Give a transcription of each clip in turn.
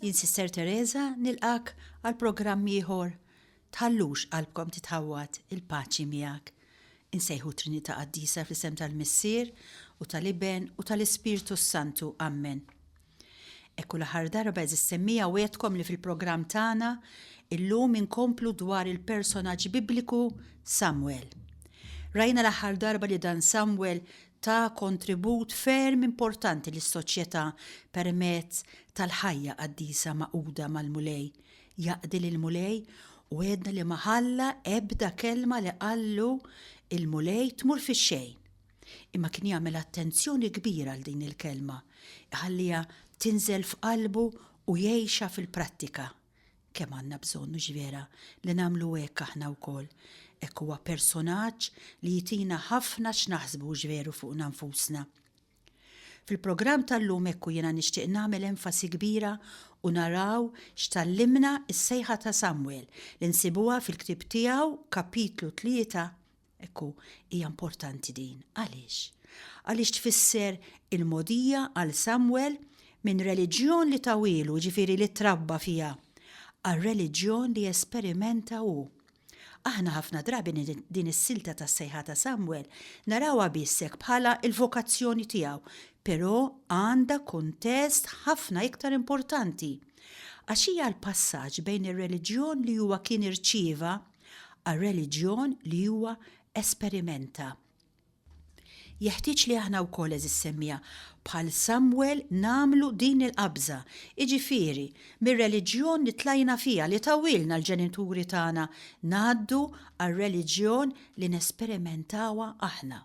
Jien Sister Teresa nilqak għal programm ieħor. Tħallux qalbkom titħawwad il-paċi miegħek. Insejħu Trinità Qaddisa fl-isem tal-Missier u tal-Iben u tal-Ispirtu s-Santu. Ammen. Ekku l-aħħar darba eżis semmija wetkom li fil-programm tagħna illum inkomplu dwar il-personaġġ bibliku Samuel. Rajna l-aħħar darba li dan Samuel ta kontribut ferm importanti lis-soċjetà permezz tal-ħajja qaddisa magħquda mal-Mulej. Jaqdi lill-Mulej u għedna li ma ħalla ebda kelma li qallu l-Mulej tmur fix-xejn. Imma kien jagħmel attenzjoni kbira għal din il-kelma, iħalliha tinżel f'qalbu u jgħixha fil-prattika. Kemm għandna bżonn, mhux vera, li nagħmlu hekk aħna wkoll. Hekk huwa personaġġ li jtina ħafna x'naħsbu, hux veru, fuqna nfusna. Fil-programm tal-lum hekk u jiena nixtieq nagħmel enfasi kbira u naraw x'tallimna s-sejħa ta' Samwel li nsibuha fil-ktieb tiegħu kapitlu tlieta Ekku, hija importanti din. Għaliex? Għaliex tfisser il-mogħdija għal Samwel minn reliġjon li tawilu, ġifieri li trabba fiha, għal reliġjon li jesperimenta hu. Aħna ħafna drabi din is-silta tas-sejħa ta' Samwel narawha biss hekk bħala l-vokazzjoni tiegħu, però għandha kuntest ħafna iktar importanti. Għax hija l-passaġġ bejn ir-reliġjon li huwa kien irċieva għar-reliġjon li huwa esperimenta. Jeħtieġ li aħna wkoll eżis semmiegħa bħal Samwel nagħmlu din il-qabża, jiġifieri mir-reliġjon li tlajna fiha li tawilna l-ġenituri tagħna ngħaddu għar-reliġjon li nesperimentawha aħna.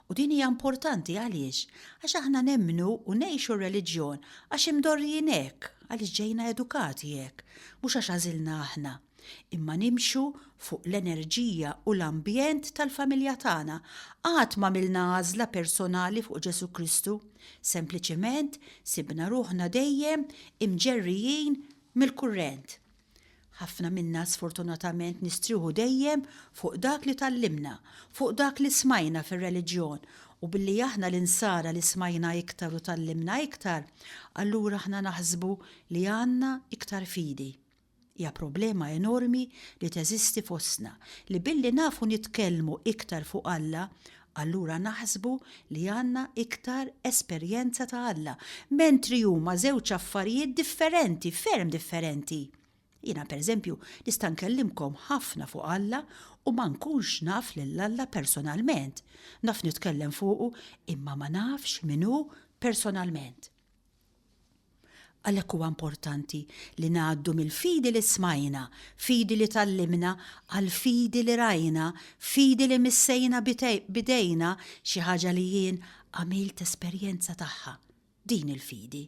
U din hija importanti għaliex? Għax aħna nemmnu u ngħixu r-reliġjon għax imdorrijin hekk, għaliex ġejna edukati hekk, mhux għax għażilna aħna. Imma nimxu fuq l-enerġija u l-ambjent tal-familja tagħna. Qatt m'għamilna għażla personali fuq Ġesù Kristu. Sempliċement sibna ruħna dejjem imġerrijin mill-kurrent. Ħafna minna sfortunatament nistrieħu dejjem fuq dak li tgħallimna, fuq dak li smajna fir-reliġjon, u billi aħna l-Insara li smajna iktar u tgħallimna iktar, allura aħna naħsbu li għandna iktar fidi. Hija problema enormi li teżisti fostna li billi nafu nitkellmu iktar fuq Alla, Allura naħsbu li għandna iktar esperjenza ta' Alla, mentri huma żewġ affarijiet differenti, ferm differenti. Jiena, pereżempju, nista' nkellimkom ħafna fuq Alla u ma nkunx naf lil Alla personalment. Naf nitkellem fuqu, imma ma nafx min hu personalment. Għalhekk huwa importanti li ngħaddu mill-fidi li smajna, fidi li tgħallimna, għall-fidi li rajna, fidi li missejna b'idejna xi ħaġa li jien għamilt esperjenza tagħha. Din hi l-fidi.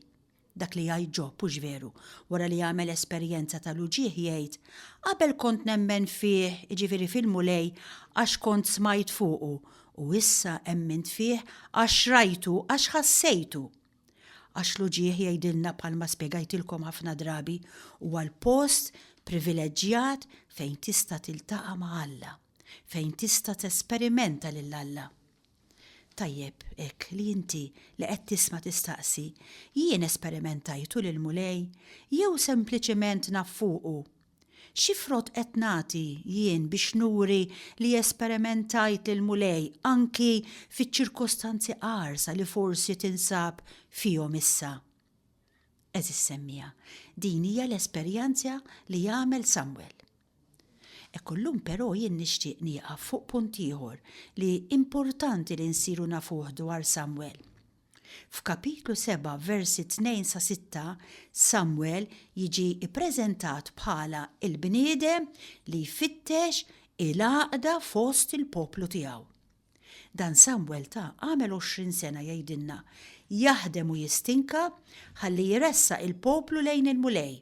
Dak li jgħid Ġob, hux veru, wara li għamel esperjenza tal-uġigħ jgħid, Qabel kont nemmen fih, jiġifieri fil-Mulej, għax kont smajt fuqu, u issa emmint fih għax rajtu, għax ħassejtu. Għax l-uġigħ jgħidilna bħalma spjegajtilkom ħafna drabi huwa l-post privileġġjat fejn tista' tiltaqa' ma' Alla, fejn tista' tesperimenta lil Alla. Tajjeb hekk li inti li qed tisma' tistaqsi, jien esperimentajtu lill-Mulej jew sempliċiment naf fuqu? Xi frott qed nagħti jien biex nuri li esperimentajt lill-Mulej anki fiċ-ċirkostanzi qarsa li forsi tinsab fihom issa? Għeżież semmiegħa, din hija l-esperjenza li għamel Samwel. Hekk illum però jien nixtieq nieqaf fuq punt ieħor li importanti li nsiru nafuh dwar Samwel. F'kapitlu 7 versi 2 sa 6, Samwel jiġi ppreżentat bħala l-bniedem li jfittex il-għaqda fost il-poplu tiegħu. Dan Samwel ta' għamel 20 sena jgħidilna, jaħdem u jistinka ħalli jressaq il-poplu lejn il-Mulej.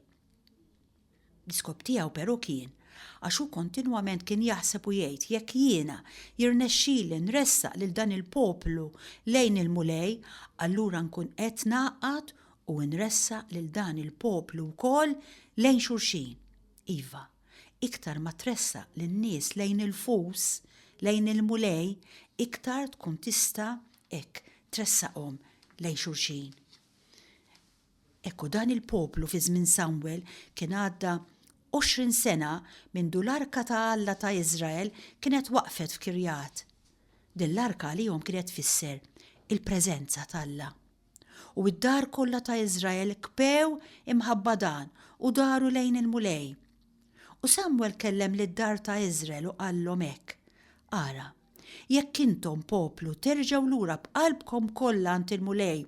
L-iskop tiegħu però kien għax hu kontinwament kien jaħseb u jgħid, Jekk jiena jirnexxili nressaq lil dan il-poplu lejn il-Mulej, allura nkun qed ngħaqqad u nressaq lil dan il-poplu wkoll lejn xulxin. Iva, iktar ma tressaq lin-nies lejn il-fus, lejn il-Mulej, iktar tkun tista' hekk tressaqhom lejn xulxin. Hekk u dan il-poplu fi żmien Samwel kien għadda għoxrin sena mindu l-arka ta' Alla ta' Iżrael kienet waqfet f'Kirjat. Din l-arka għalihom kienet tfisser il-preżenza t'Alla. U d-dar kollha ta' Iżrael kbew imħabba dan u daru lejn il-Mulej. U Samwel kellem lid-dar ta' Iżrael u qallhom hekk, Ara, Jekk intom, poplu, terġgħu lura b'qalbkom kollha għand il-Mulej,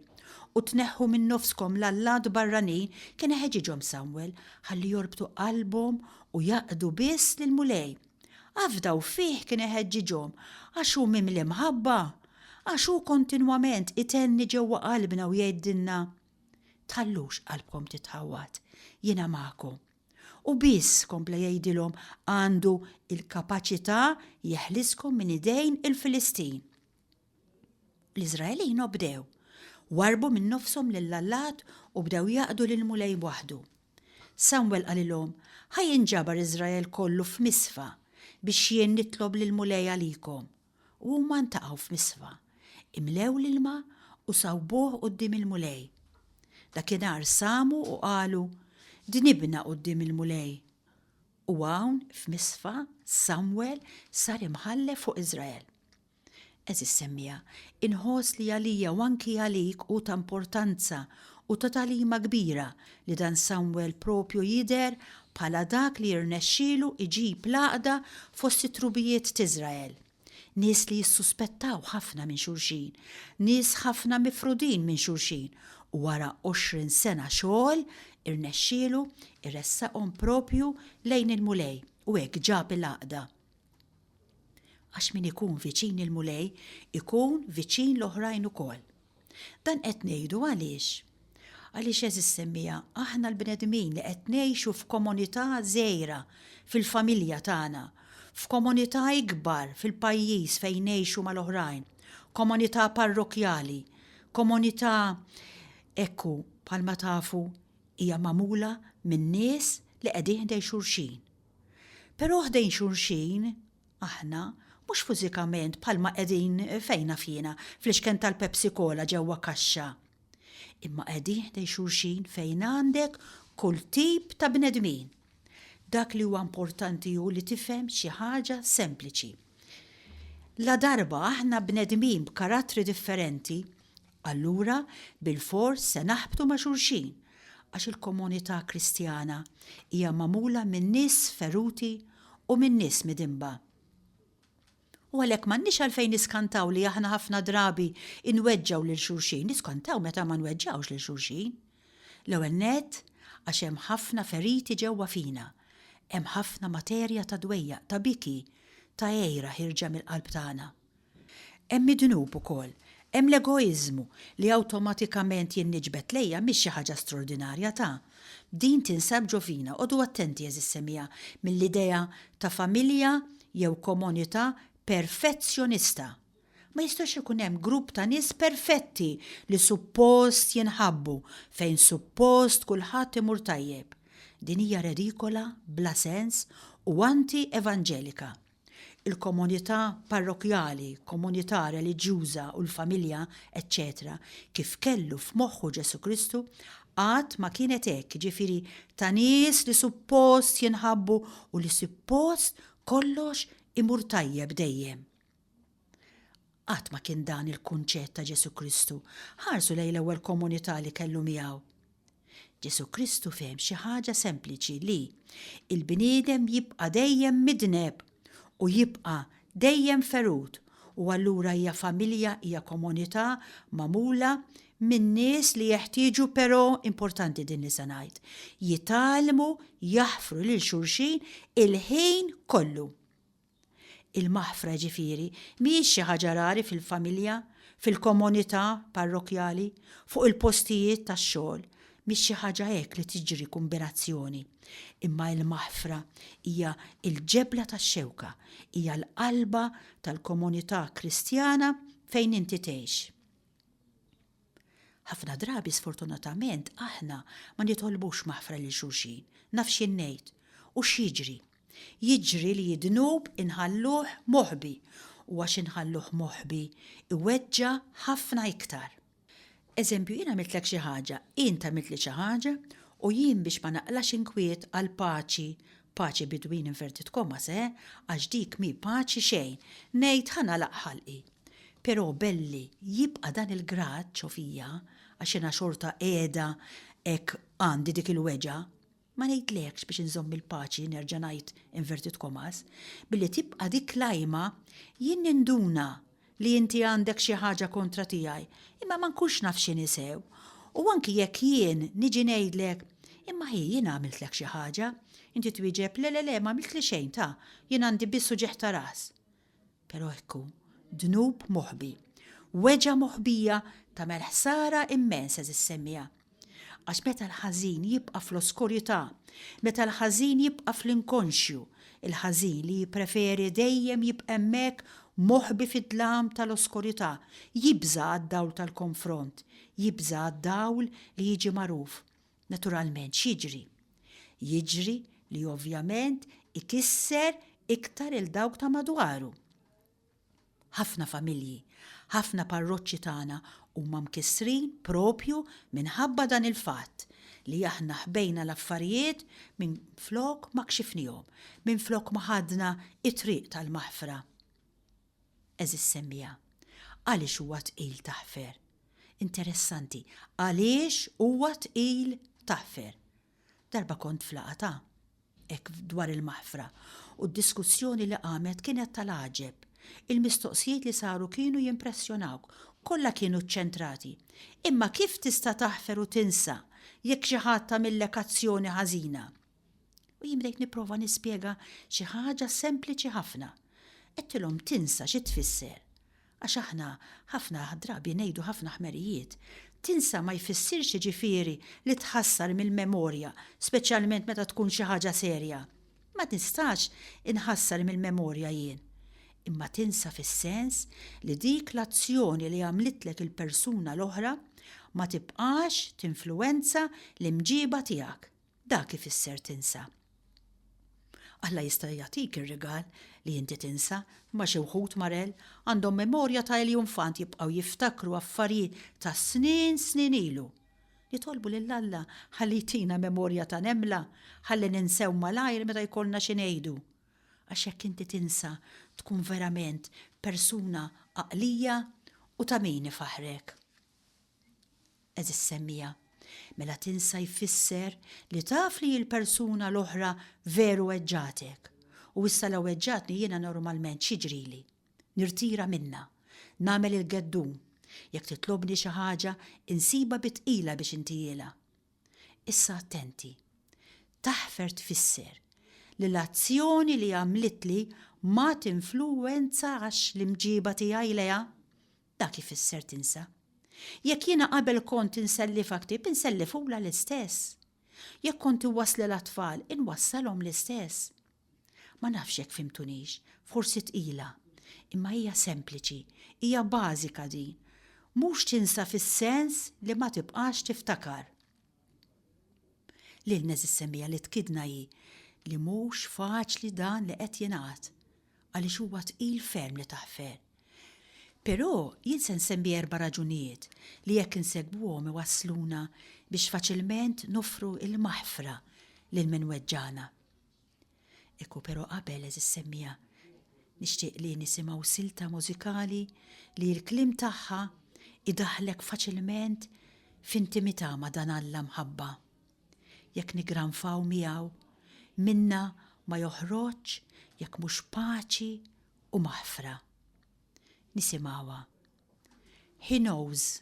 u tneħħu minn nofskom l-allat barranin, kien iħeġġiġhom Samwel ħalli jorbtu qalbhom u jaqdu biss lill-Mulej. Afdaw fih kien iħeġġiġhom, għax hu mimli mħabba, għax hu kontinwament itenni ġewwa qalbna u jgħidilna, Tħallux qalbkom titħawwad, jiena magħkom. U biss, kompla jgħidilhom, għandu l-kapaċità jeħliskom minn idejn il-Filistin. L-Iżraelin obdew, warbu minn nofshom lil allat u bdew jaqdu lil mulej waħdu. Samuel qalilhom, ħaj inġabar Iżrael kollu f'Misfa biex jien nitlob lil mulej għalikom. u huma ntaqgħu f'nisfa, imlew l-ilma u sawbuh quddiem il-Mulej. Dakinhar samu u qalu, Dnibna quddiem il-Mulej. U hawn f'Misfa Samwel sar imħallef fuq Iżrael. Eżis semmija, inħoss li għalija u anki għalik hu ta' importanza u ta' tagħlima kbira li dan Samwel proprju jidher bħala dak li jirnexxielu jġib l-għaqda fost it-trubijiet t'Iżrael. Nies li jissuspettaw ħafna minn xulxin, nies ħafna mifrudin minn xulxin, u wara għoxrin sena xogħol irnexxielu jressaqhom proprju lejn il-Mulej u hekk ġab il-għaqda. Għax min ikun viċin il-Mulej ikun viċin l-oħrajn ukoll. Dan qed ngħidu għaliex? Għaliex għeżiż semmiegħa aħna l-bnedmin li qed ngħixu f'komunità żgħira fil-familja tagħna, f'komunità ikbar fil-pajjiż fejn ngħixu mal-oħrajn, komunità parrokkjali, komunità ekku bħalma tafu hija magħmula minn nies li qegħdin ħdejn xulxin. Però ħdejn xulxin Aħna, mhux fużikament bħalma qegħdin, fejn naf jiena, fl-ixken tal-Pepsi Cola ġewwa kaxxa. Imma qegħdin ħdejn xulxin fejn għandek kull tip ta' bnedmin. Dak li huwa importanti hu li tifhem xi ħaġa sempliċi. Ladarba aħna bnedmin b'karattri differenti, Allura bilfors se naħbtu ma' xulxin, għax il-komunità Kristjana hija magħmula minn nies feruti u minn nies midinba. U għalhekk m'għandniex għalfejn niskantaw li aħna ħafna drabi nweġġgħu lil xulxin, niskantaw meta ma nweġġgħux lil xulxin. L-ewwel nett, għax hemm ħafna feriti ġewwa fina, hemm ħafna materja ta' dwejjaq, ta' biki, ta' għira ħierġa mill-qalb tagħna. Hemm id-dnub ukoll. Hemm l-egoiżmu, li awtomatikament jien niġbed lejja mhix xi ħaġa straordinarja ta'. Din tinsab ġo fina, qogħdu attenti għeżież semija, mill-idea ta' familja jew komunità perfezzjonista. Ma jistax ikun hemm grupp ta' nies perfetti li suppost jinħabbu, fejn suppost kulħadd imur tajjeb. Din hija redikola, bla sens u anti-evanġelika. il-komunità parrokkjali, komunità reliġjuża u l-familja, eċċetera Kif kellu f'moħħu Ġesù Kristu, qatt ma kienet hekk, jiġifieri ta' nies li suppost jinħabbu u li suppost kollox imur tajjeb dejjem. Qatt ma kien dan il-kunċett ta' Ġesù Kristu. Ħarsu lejn l-ewwel komunità li kellu miegħu. Ġesù Kristu fehem xi ħaġa sempliċi li l-bniedem jibqa' dejjem midneb u jibqa' dejjem ferut u allura hija familja, hija komunità magħmula minn nies li jeħtieġu però, importanti din li se ngħid, jitgħallmu jaħfru lil xulxin il-ħin kollu. Il-maħfra, jiġifieri, mhijiex xi ħaġa rari fil-familja, fil-komunità parrokkjali, fuq il-postijiet tax-xogħol, mhix xi ħaġa hekk li tiġri kumbinazzjoni, imma il-maħfra hija l-ġebla tax-xewka, hija l-qalba tal-komunità Kristjana fejn inti tgħix. Ħafna drabi sfortunatament aħna ma nitolbux maħfra lil xulxin. Naf x'jien ngħid. U x'jiġri? Jiġri li d-dnub inħalluh moħbi u għax inħalluh moħbi iweġġa' ħafna iktar. Eżempju, jien għamiltlek xi ħaġa, int għamiltli xi ħaġa u jien biex ma naqlax inkwiet għal paċi, paċi between inverted commas eh, għax dik mhi paċi xejn, ngħid ħa nagħlaq ħalqi. Però belli jibqa' dan il-grad ġo fija għax jiena xorta qiegħda hekk għandi dik il-weġgħa. Ma ngħidlekx biex inżomm il-paċi nerġa' ngħid inverted commas, billi tibqa' dik l-għajma jien ninduna li inti għandek xi ħaġa kontra tiegħi imma ma nkunx naf x'inhi sew u anki jekk jien niġi ngħidlek imma hi jiena għamiltlek xi ħaġa, inti twieġeb le le le m'għamiltli xejn ta, jien għandi biss uġigħ ta' ras. Però hekk hu, dnub moħbi. Weġgħa moħbija tagħmel ħsara immens, għeżież semmiegħa. Għax meta l-ħażin jibqa' fl-oskurità, meta l-ħażin jibqa' fl-inkonxju, il-ħażin li jippreferi dejjem jibqa' hemmhekk moħbi fid-dlam tal-oskurità, jibża' għad-dawl tal-konfront, jibża' għad-dawl li jiġi magħruf. Naturalment x'jiġri? Jiġri li ovvjament ikisser iktar 'il dawk ta' madwaru. Ħafna familji, ħafna parroċċi tagħna huma mkissrin proprju minħabba dan il-fatt li aħna ħbejna l-affarijiet minflok ma kxifnihom, minflok ma ħadna t-triq tal-maħfra. Għeżież semmiegħa, Għaliex huwa tqil taħfer? Interessanti, għaliex huwa tqil taħfer? Darba kont f'laqgħa ta' hekk dwar il-maħfra u d-diskussjoni li qamet kienet tal-għaġeb. Il-mistoqsijiet li saru kienu jimpressjonawk. Kollha kienu ċċentrati, Imma kif tista' taħfer u tinsa jekk xi ħadd għamillek azzjoni ħażina? U jien bdejt nipprova nispjega xi ħaġa sempliċi ħafna. Għedtilhom tinsa xi tfisser. Għax aħna ħafna drabi ngħidu ħafna ħmerijiet. Tinsa ma jfissirx jiġifieri li tħassar mill-memorja, speċjalment meta tkun xi ħaġa serja. Ma nistax inħassar mill-memorja jien. Imma tinsa fis-sens li dik l-azzjoni li għamlitlek il-persuna l-oħra ma tibqax tinfluwenza l-imġiba tiegħek. Dak ifisser tinsa. Alla jista' jagħtik ir-rigal li inti tinsa, imma xi wħud, Marel, għandhom memorja ta' eljunfant jibqgħu jiftakru affarijiet ta' snin snin ilu. Nitolbu lil Alla ħalli jtina memorja ta' nemla ħalli ninsew malajr meta jkollna xi ngħidu. Għax jekk inti tinsa tkun verament persuna għaqlija u ta' min ifaħħrek. Għeżież semmiegħa, mela tinsa jfisser li taf li l-persuna l-oħra veru weġġagħtek, u issa la weġġagħtni jiena normalment x'jiġrili? Nirtira minnha. Nagħmel il-geddun. Jekk titlobni xi ħaġa, insibha bi tqila biex intihielha. Issa attenti. Taħfer tfisser li l-azzjoni li għamlitli ma tinfluwenzax l-imġieba tiegħi lejha. Dak ifisser tinsa. Jekk jiena qabel kont insellifha ktieb, insellifhulha l-istess. Jekk kont iwasslilha t-tfal, inwassalhom l-istess. Ma nafx jekk fhimtunix, forsi tqila, imma hija sempliċi, hija bażika din. Mhux tinsa fis-sens li ma tibqax tiftakar. L-ilmez is-semmiegħa li tkiddna hi li mhux faċli dan li qed jingħad għaliex huwa tqil ferm li taħfer. Però jien se nsemmi erba' raġunijiet li jekk insegwuhom iwassluna biex faċilment noffru l-maħfra lil min weġġagħna. Ikku pero qabel eżiż semmiegħa nixtieq li nisimgħu silta mużikali li l-kliem tagħha idaħħlek faċilment f'intimità ma' dan Alla mħabba. Jekk niggranfaw miegħu, minna ma joħroġx jekk mhux paċi u maħfra. Nisimgħuha. He knows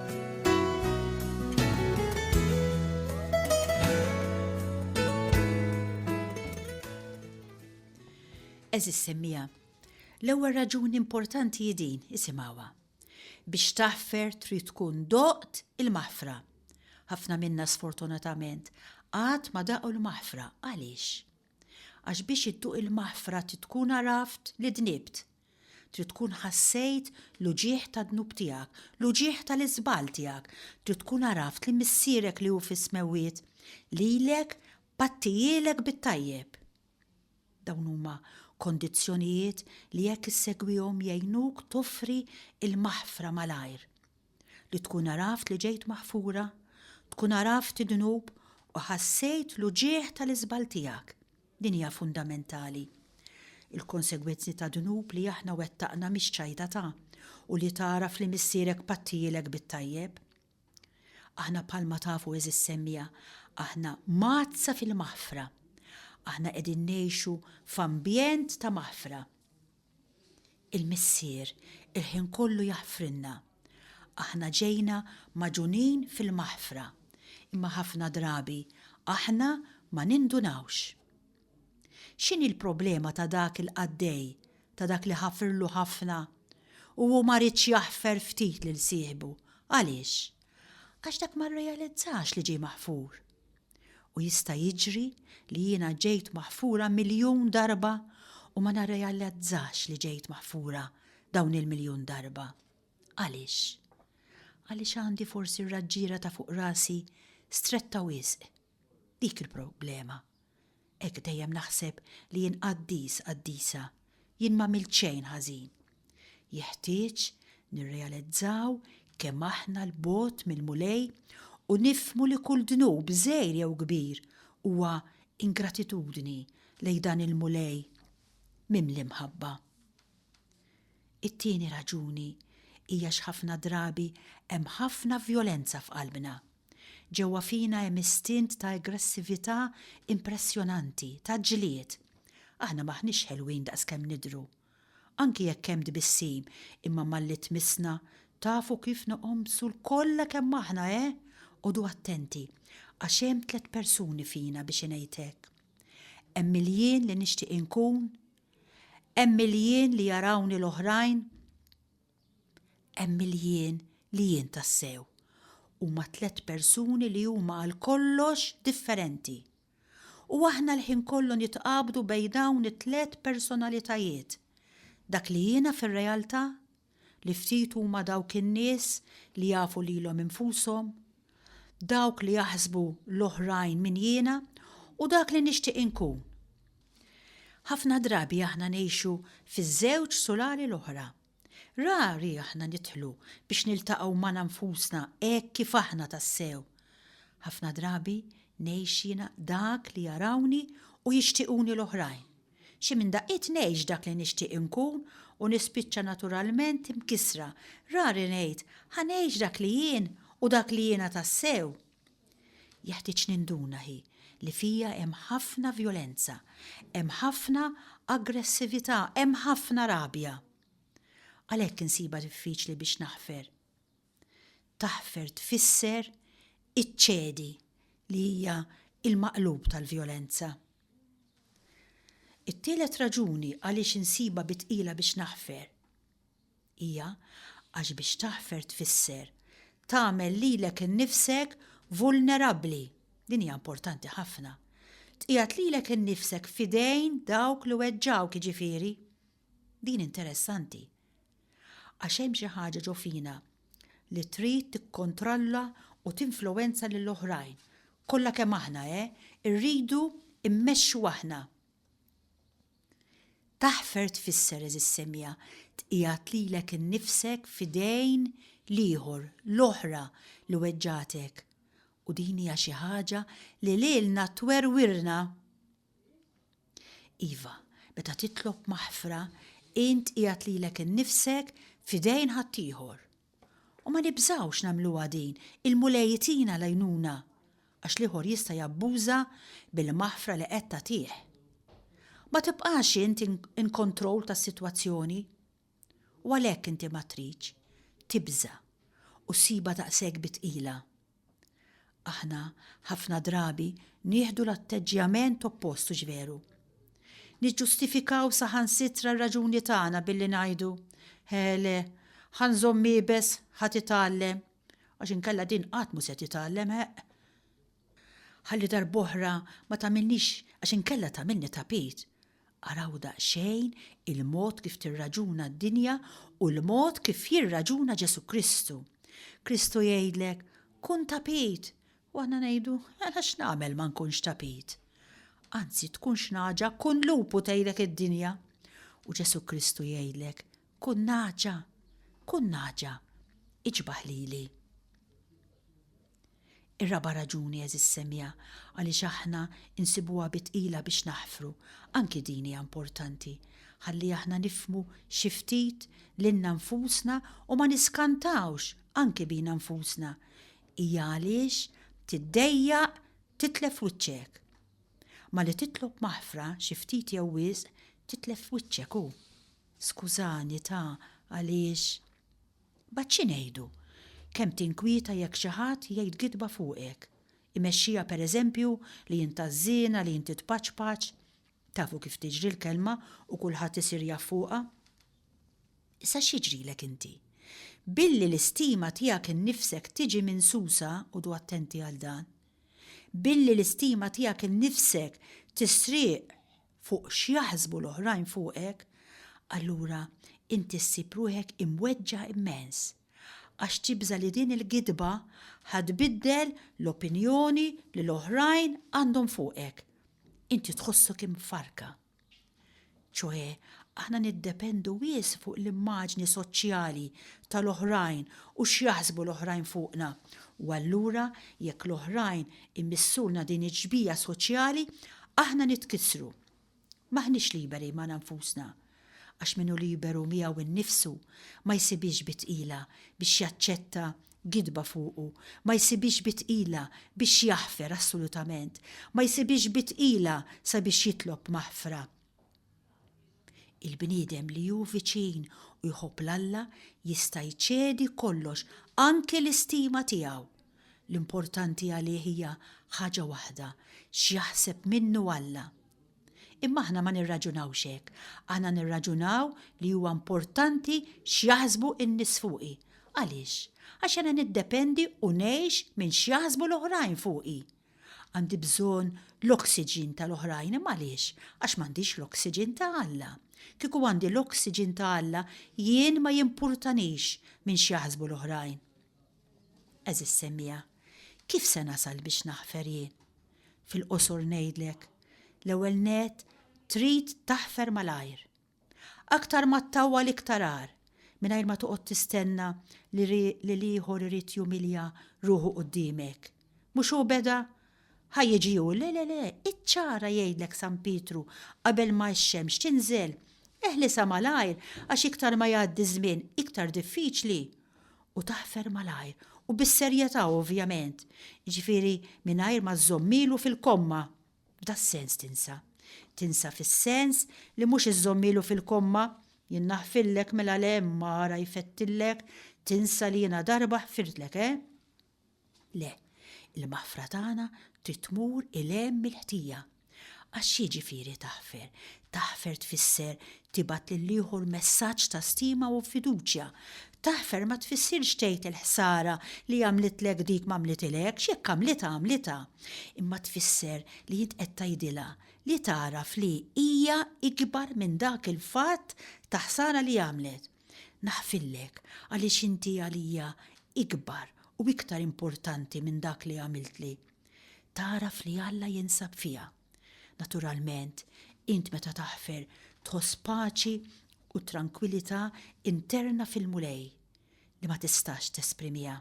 Eżis semmija, l-ewwel raġuni importanti hi din isimgħuha. Biex taħfer trid tkun doqt il-maħfra. Ħafna minna sfortunatament għad ma daqu l-maħfra għaliex? Għax biex idduq il-maħfra tkun għaraft li dnibt, Trid tkun ħassejt l-uġigħ tad-dnub tiegħek, l-uġigħ tal-iżball tiegħek. Trid tkun għaraft li Missierek li hu fis-smewwiet lilek pattijielek bit-tajjeb. Dawn huma kondizzjonijiet li jekk issegwihom jgħinuk toffri l-maħfra malajr. Li tkun għaraft li ġejt maħfura, tkun għaraft id-dnub u ħassejt l-uġigħ tal-iżball tiegħek. Din hija fundamentali. Il-konsegwenzi ta' dnub li aħna wettaqna mhix ċajta ta' u li tagħraf li missierek pattijielek bit-tajjeb. Aħna bħalma tafu għeżież semmiegħa, aħna mgħaddsa fil-maħfra. Aħna qegħdin ngħixu f'ambjent ta' maħfra. Il-Missier il-ħin kollu jaħfrilna. Aħna ġejna magħġunin fil-maħfra, imma ħafna drabi aħna ma nindunawx. X'inhi l-problema ta' dak il-qaddej, ta' dak li ħafirlu ħafna? U hu ma riedx jaħfer ftit lil sieħbu. Għaliex? Għax dak ma rrealizzax li ġie maħfur. U jista' jiġri li jiena ġejt maħfura miljun darba u ma narrealizzax li ġejt maħfura dawn il-miljun darba. Għaliex? Għaliex għandi forsi r-raġġiera ta' fuq rasi stretta wisq. Dik il-problema. Hekk dejjem naħseb li jien qaddis, qaddisa. Jien m'għamilt xejn ħażin. Jeħtieġ nirrealizzaw kemm aħna 'l bogħod mill-Mulej u nifhmu li kull dnub, żgħir jew kbir, huwa ingratitudni lejn dan il-Mulej mimli mħabba. It-tieni raġuni hija x'ħafna drabi hemm ħafna vjolenza f'qalbna. Ġewwa fina hemm istint ta' aggressività impressjonanti, ta' ġlied. Aħna m'aħniex ħelwin daqs kemm nidhru. Anki jekk hemm tbissim, imma malli tmissna, tafu kif noqomsu lkollha kemm aħna, eh? Għodu attenti, għax hemm tliet persuni fina biex ingħid hekk. Hemm il-jien li nixtieq inkun, hemm il-jien li jarawni l-oħrajn, Hemm il-jien li jien tassew. Huma tliet persuni li huma għal kollox differenti. U aħna l-ħin kollu nitqabdu bejn dawn it-tliet personalitajiet. Dak li jiena fir-realtà? Li ftit huma dawk in-nies li jafu lilhom infushom? Dawk li jaħsbu l-oħrajn min jiena u dak li nixtieq inkun? Ħafna drabi aħna ngħixu fiż-żewġ sulari l-oħra. Rari aħna nidħlu biex niltaqgħu magħna nfusna hekk kif aħna tassew. Ħafna drabi ngħix jiena dak li jarawni u jixtiequni l-oħrajn. Xi minn daqqiet ngħix dak li nixtieq inkun u nispiċċa naturalment imkissra. Rari ngħid, 'Ħa ngħix dak li jien u dak li jiena tassew. Jeħtieġ ninduna hi li fija hemm ħafna vjolenza, hemm ħafna aggressività, hemm ħafna rabja. Għalhekk insibha diffiċli biex naħfer. Taħfer tfisser iċċedi li hija l-maqlub tal-vjolenza. It-tielet raġuni għaliex insibha bi tqila biex naħfer. Hija, għax biex taħfer tfisser tagħmel lilek innifsek vulnerabbli, din hija importanti ħafna, tqiegħed lilek innifsek f'idejn dawk li weġġgħuk, jiġifieri, din interessanti. Għax hemm xi ħaġa ġo fina li trid tikkontrolla u tinfluwenza lil oħrajn. Kollha kemm aħna, eh, irridu immexxu aħna. Taħfer tfisser, għeżież semija, tqiegħed lilek innifsek f'idejn l-ieħor, l-oħra li weġġgħetek. U din hija xi ħaġa li lilna twerwirna. Iva, meta titlob maħfra, int qiegħed lilek innifsek f'idejn ħaddieħor, U ma nibżgħux nagħmluha din, il-Mulej itina l-għajnuna għax l-ieħor jista' jabbuża bil-maħfra li qed tagħtih. Ma tibqax int in kontroll tas-sitwazzjoni. U għalhekk inti ma tridx tibża' u ssibha daqshekk bi tqila. Aħna ħafna drabi nieħdu l-atteġġjament oppost hux veru? Niġġustifikaw saħansitra r-raġuni tagħna billi ngħidu, Hele, ħa nżomm iebes, ħa titgħallem, għax inkella din qatt mhu se titgħallem, ħeqq. Ħalli darb'oħra ma tagħmilnix għax inkella tagħmilni tapit, Araw daqsxejn il-mod kif tirraġuna d-dinja u l-mod kif jirraġuna Ġesù Kristu. Kristu jgħidlek, kun tapit! U aħna ngħidu, mela x'nagħmel ma nkunx tapit? Anzi, tkun xnaġa, kun lupu tgħidlek id-dinja. U Ġesù Kristu jgħidlek, kun naġa, kun naġa, iġbaħ lili. Ir-raba' raġuni, għeżież semja, għaliex aħna nsibuha bi tqila biex naħfru, anki din hija importanti, ħalli aħna nifhmu xi ftit lilna nfusna u ma niskantawx anki bina nfusna, hija għaliex tiddejjaq titlef wiċċek. Malli titlob maħfra xi ftit jew wisq titlef wiċċek u. Skużani ta għaliex. Mbagħad xi ngħidu? Kemm tinkwieta jekk xi ħadd jgħid gidba fuqek. Imexxija pereżempju li int ħażżiena, li inti tpaċpaċ. Tafu kif tiġri l-kelma u kulħadd isir jaf fuqha. Issa x'jiġrilek inti? Billi l-istima tiegħek innifsek tiġi minsusa, qogħdu attenti għal dan. Billi l-istima tiegħek innifsek tisrieq fuq x'jaħsbu l-oħrajn fuqek, allura inti ssib ruħek imweġġa' immens, għax tibża' li din il-gidba ħa tbiddel l-opinjoni li l-oħrajn għandhom fuqek. Inti tħossok imfarrka. Ċoe, aħna niddependu wisq fuq l-immaġni soċjali tal-oħrajn u x'jaħsbu l-oħrajn fuqna, u allura jekk l-oħrajn Imissulna din it-tġbija soċjali, aħna nitkissru. M'aħniex liberi magħna nfusna. Għax min hu liberu miegħu nnifsu, ma jsibhiex bi tqila biex jaċċetta gidba fuqu, ma jsibhiex bi tqila biex jaħfer assolutament, ma jsibhiex bi tqila sabiex jitlob maħfra. Il-bniedem li hu viċin u jħobb 'l Alla jista' jċedi kollox, anki l-istima tiegħu. L-importanti għalih hija ħaġa waħda, x'jaħseb minnu Alla. Imma aħna ma nirraġunawx hekk, aħna nirraġunaw li huwa importanti x'jaħsbu n-nies fuqi. Għaliex? Għax jiena niddependi u ngħix minn x'jaħsbu l-oħrajn fuqi. Għandi bżonn l-oxygen tal-oħrajn imma għaliex? Għax m'għandix l-oxygen ta' Alla. Kieku għandi l-oxygen ta' Alla jien ma jimpurtanix minn x'jaħsbu l-oħrajn. Għeżież semmiegħa, kif se nasal biex naħfer jien? Fil-qosor ngħidlek, l-ewwel nett trid taħfer malajr. Aktar ma ttawwal iktar agħar, mingħajr ma toqgħod tistenna li l-ieħor irid jumilja ruħu quddiemek. Mhux hu beda? Ħa jiġi hu, le, le, le, iċċara jgħidlek San Pietru qabel ma x-xemx tinżel, eħlisha malajr għax iktar ma jgħaddi ż-żmien iktar diffiċli u taħfer malajr u bis-serjetà ovvjament, jiġifieri mingħajr ma żżomm ilu fil-komma. F'das-sens tinsa. Tinsa fis-sens li mhux iżżommilu fil-komma, Jien naħfillek, mela le, imma ara jfettillek, tinsa li jiena darba ħfirtlek, eh? Le, il-maħfra tagħna trid tmur 'il hemm mill-ħtija. Għax x'jiġifieri taħfer? Taħfer tfisser tibgħat lil ieħor messaġġ ta' stima u fiduċja. Taħfer ma tfissirx tgħid il-ħsara li għamlitlek dik m'għamlitilekx, jekk għamlitha għamlitha. Imma tfisser li int qed tgħidilha li tagħraf li hija ikbar minn dak il-fatt ta' ħsara li għamlet. Naħfillek għaliex inti għalija ikbar u iktar importanti minn dak li għamiltli. Tagħraf li Alla jinsab fiha. Naturalment, int meta taħfer tħoss paċi u trankwilità interna fil-Mulej li ma tistax tesprimiha.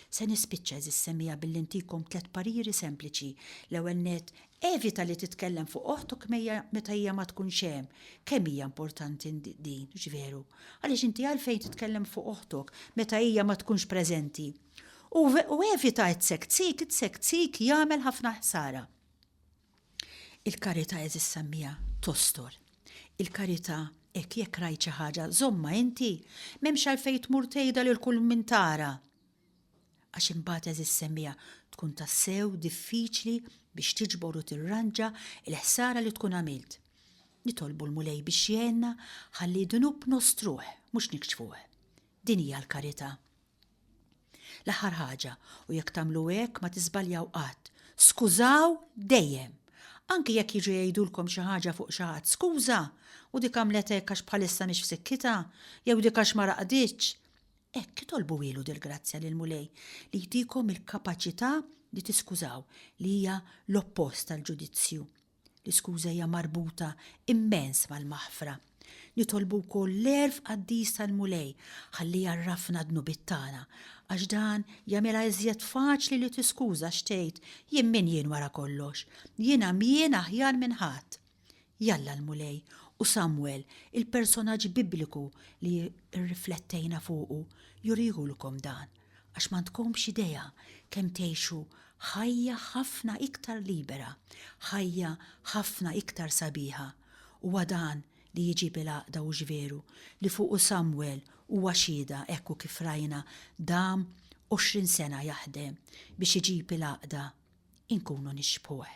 Se nispiċċa, għeżież semmiegħa, billi ntikom tliet pariri sempliċi. L-ewwel nett, evita li titkellem fuq oħtok meta hija ma tkunx hemm. Kemm hija importanti din, hux veru? Għaliex inti għalfejn titkellem fuq oħtok meta hija ma tkunx preżenti? U u evita it-sek tsik, it-sek tsik jagħmel ħafna ħsara. Il-karità eżis sammija tostor. Il-karità hekk jekk rajt xi ħaġa żommha inti, m'hemmx għalfejn tmur tgħidha lil kull min tara. Għax imbagħad eżis semmija tkun tassew diffiċli biex tiġbor u tirranġa l-ħsara li tkun għamilt. Nitolbu l-Mulej biex jgħinna ħalli d-dnub nostruh mhux nikxfuh. Din hija l-karità. L-aħħar ħaġa, u jekk tagħmlu hekk ma tiżbaljaw qatt, skużaw dejjem! Anki jekk jiġu jgħidulkom xi ħaġa fuq xi ħadd, skuża, u dik għamlet hekk għax bħalissa mhix f'sikkitha, jew dik għax ma raqditx. Hekk itolbu ilu dil-grazzja lill-Mulej li jtikom il-kapaċità li tiskużaw, li hija l-oppost tal-ġudizzju. L-iskuża hija marbuta immens mal-maħfra. Nitolbu wkoll l-għerf qaddis tal-Mulej ħalli jgħarrafna d-dnubiet tagħna, għax dan jagħmilha iżjed faċli li tiskuża x'tgħid, jien min jien wara kollox? Jien għamjien aħjar minn ħadd. Jalla l-Mulej u Samwel, il-personaġġ Bibliku li rriflettejna fuqu, jurihulkom dan. għax m'għandkomx idea kemm tgħixu ħajja ħafna iktar libera, ħajja ħafna iktar sabiħa. Huwa dan li jġib il-għaqda hux veru li fuqu Samwel huwa xhieda hekku kif rajna dam għoxrin sena jaħdem biex iġib il-għaqda inkunu nixbħuh.